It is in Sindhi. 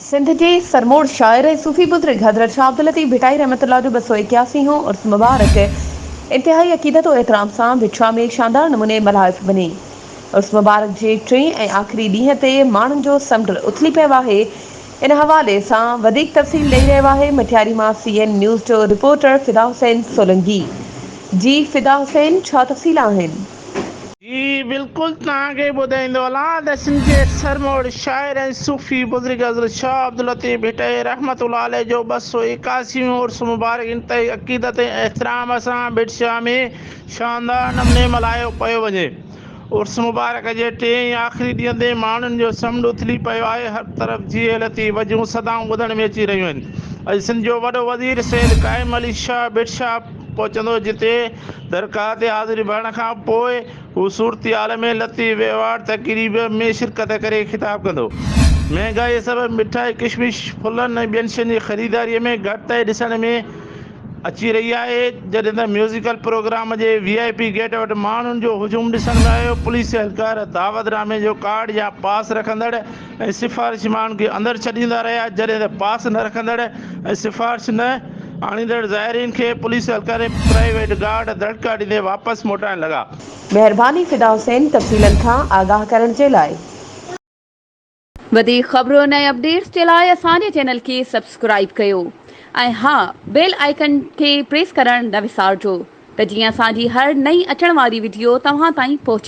سنڌ جي سرموڙ شاعر ۽ صوفي بزرگ حضرت شاھ عبداللطيف ڀٽائي رحمة الله جو ٻه سؤ ايڪياسي هون عرس مبارڪ انتهائي عقيدت و احترام سان ڀٽشاھ ۾ شاندار نموني ملهائف وڃي. عرس مبارڪ جي ٽئين ۽ آخري ڏينهن تي ماڻهن جو سمنڊ اٿلي پيو آهي ان حوالي سان وڌيڪ تفصيل ڏئي رهيو آهي مٽياري مان سي اين نيوز جو رپورٽر فدا حسين سولنگي. جي فدا حسين ڇا تفصيل آهن؟ جي بلڪل توهان کي ٻڌائيندو هلان ته سنڌ جي سرموڙ شاعر ۽ صوفي بزرگ حضرت شاهه عبداللطيف ڀٽائي رحمة الله عليه جو ٻه سؤ ايڪاسي هون عرس مبارڪ انتهائي عقيدت ۽ احترام سان ڀٽ شاهه ۾ شاندار نموني ملهايو پيو وڃي عرس مبارڪ جي ٽئين ۽ آخري ڏينهن تي ماڻهن جو سمنڊ اٿلي پيو آهي هر طرف جيئي لطيف وجون صدائون ٻڌڻ ۾ اچي رهيون آهن اڄ سنڌ جو وڏو وزير سيد قائم علي شاهه ڀٽ شاهه پهچندو جتي درگاهه تي حاضر ڀرڻ کان پوء هو صورتحال ۾ لطيف ايوارڊ تقريب ۾ شرڪت ڪري خطاب ڪندو. مهانگائي سبب مٺائي، ڪشمش، ڦلن ۽ ٻين شين جي خريداري ۾ گهٽتائي ڏسڻ ۾ اچي رهي آهي، جڏهن ته ميوزيڪل پروگرام جي وي آء پي گيٽ وٽ ماڻهن جو هجوم ڏسڻ ۾ آيو، پوليس اهلڪار دعوت نامي جو ڪارڊ يا پاس رکندڙ، ۽ سفارشي ماڻهن کي اندر ڇڏيندا رهيا جڏهن ته پاس نه رکندڙ ۽ سفارش نه آڻيندڙ زائرين کي پوليس اهلڪارن ۽ پرائيويٽ گارڊ دڙڪا ڏيندي واپس موٽائڻ لڳا. مهرباني فدا حسين تفصيلن کان آگاهه ڪرڻ جي لاء. وڌيڪ خبرن ۽ اپڊيٽس جي لاء اسان جي چينل کي سبسڪرائيب ڪيو ۽ ها بيل آئيڪن کي پريس ڪرڻ نه وسارجو ته جيئن اسان جي هر نئين اچڻ واري وڊيو توهان تائين پهچي.